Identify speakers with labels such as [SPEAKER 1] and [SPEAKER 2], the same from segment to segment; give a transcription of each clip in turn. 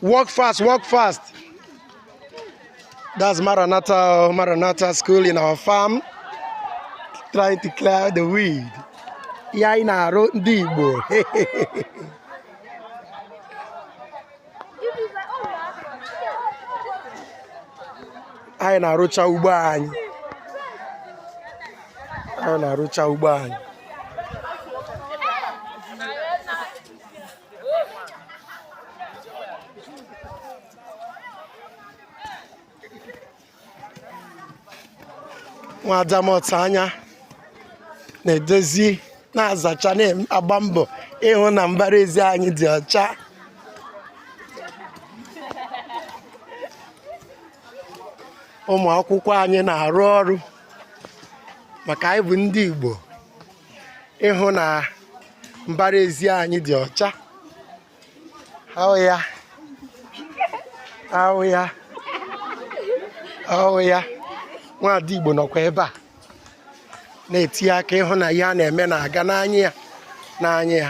[SPEAKER 1] Work fast, work fast. That's Maranatha, Maranatha school in our farm. Trying to clear the weed. Anyị na-arụ ndị Igbo. anyị na-arụcha ugbo anyị anyị na-arụcha ugbo anyị nwadamọta anya na-edozi na-azacha na-agba mbọ ịhụ na mbara ezi anyị dị ọcha ụmụ akwụkwọ anyị na-arụ ọrụ maka anyị bụ ndị Igbo ịhụ na mbara ezi anyị dị ọcha Oh yeah. Oh yeah. Oh yeah. Nwaada Igbo nọkwa ebe a na-etinye aka ịhụ na ihe a na-eme na-aga n'anya ya n'anya ya.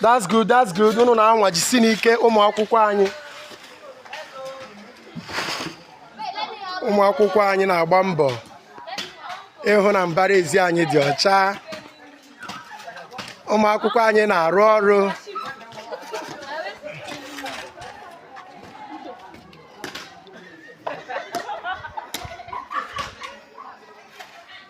[SPEAKER 1] that's good that's good unu na-anwa jisinụ ike ụmụ akwụkwọ anyị ụmụ akwụkwọ anyị na-agba mbọ ịhụ na mbara ezi anyị dị ọcha ụmụ akwụkwọ anyị na-arụ ọrụ